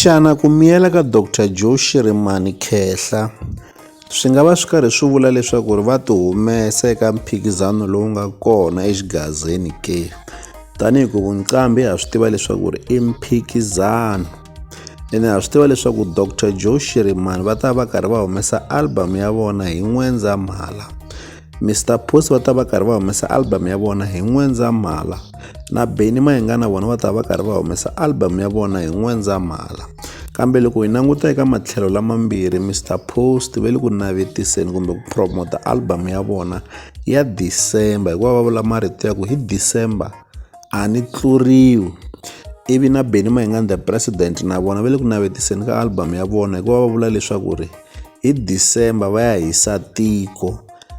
Xana ku miyela ka Doctor Joe Shirimani Khehla swi nga va swi karhi swi vula leswaku ri va tihumesa eka mphikizano lowu nga kona exigazeni ke tanihi ku vunqambi ha swi tiva leswaku ri i mphikizano ene ha swi tiva leswaku Doctor Joe Shirimani va ta va karhi va humesa album ya vona hi N'wendzamhala Mister Post va ta va karhi va humesa album ya vona hi N'wendzamhala na Benny Mayenga na vona va ta va karhi va humesa album ya vona hi N'wendzamhala kambe loko hi languta eka matlhelo lamambirhi Mister Post ve le ku navetiseni kumbe ku promota album ya vona ya December hikuva va vula marito ya ku hi December a ni tluriwi ivi na Benny Mayenga the president na vona ve le ku navetiseni ka album ya vona hikuva va vula leswaku ri hi December va ya hisa tiko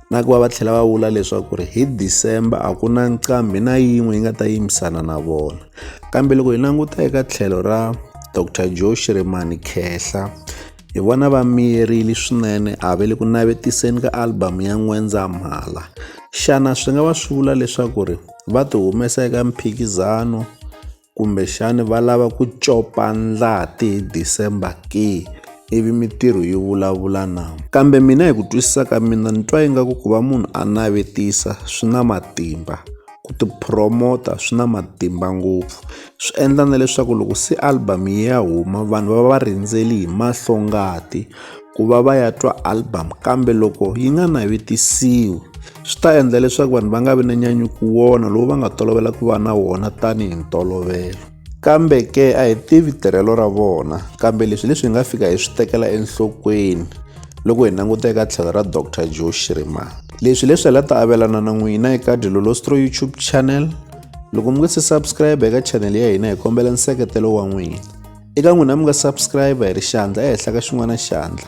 na ku va va tlhela va vula leswaku ri hi December a ku na nqambi na yin'we yi nga ta yimisana na vona kambe loko hi languta eka tlhelo ra Dr Joe Shirimani Khehla hi vona va miyerile swinene a ve le ku navetiseni ka album ya N'wendzamhala xana swi nga va swi vula leswaku ri va ti humesa eka mphikizano Kumbexana va lava ku copa ndlati hi December ke ivi mitirho yi vulavula na kambe mina hi ku twisisa ka mina ni twa ingaku ku va munhu a navetisa swi na matimba ku tiphuromota swi na matimba ngopfu swi endla na leswaku loko se album yi ya huma vanhu va va va rindzele hi mahlongati ku va va ya twa album kambe loko yi nga navetisiwi. swi ta endla leswaku vanhu va nga vi na nyanyuko wona lowu va nga tolovela ku va na wona tanihi ntolovelo kambe ke a hi tivi tirhelo ra vona kambe leswi leswi hi nga fika hi swi tekela enhlokweni loko hi languta eka tlhelo ra dr joe shriman leswi leswi la ta avelana na n'wina eka dilolostro youtube channel loko mi nga se subscribe eka channel ya hina hi kombela nseketelo wa n'wina eka n'wina mi nga subscribe hi ri xandla ehenhla ka xin'wana xandla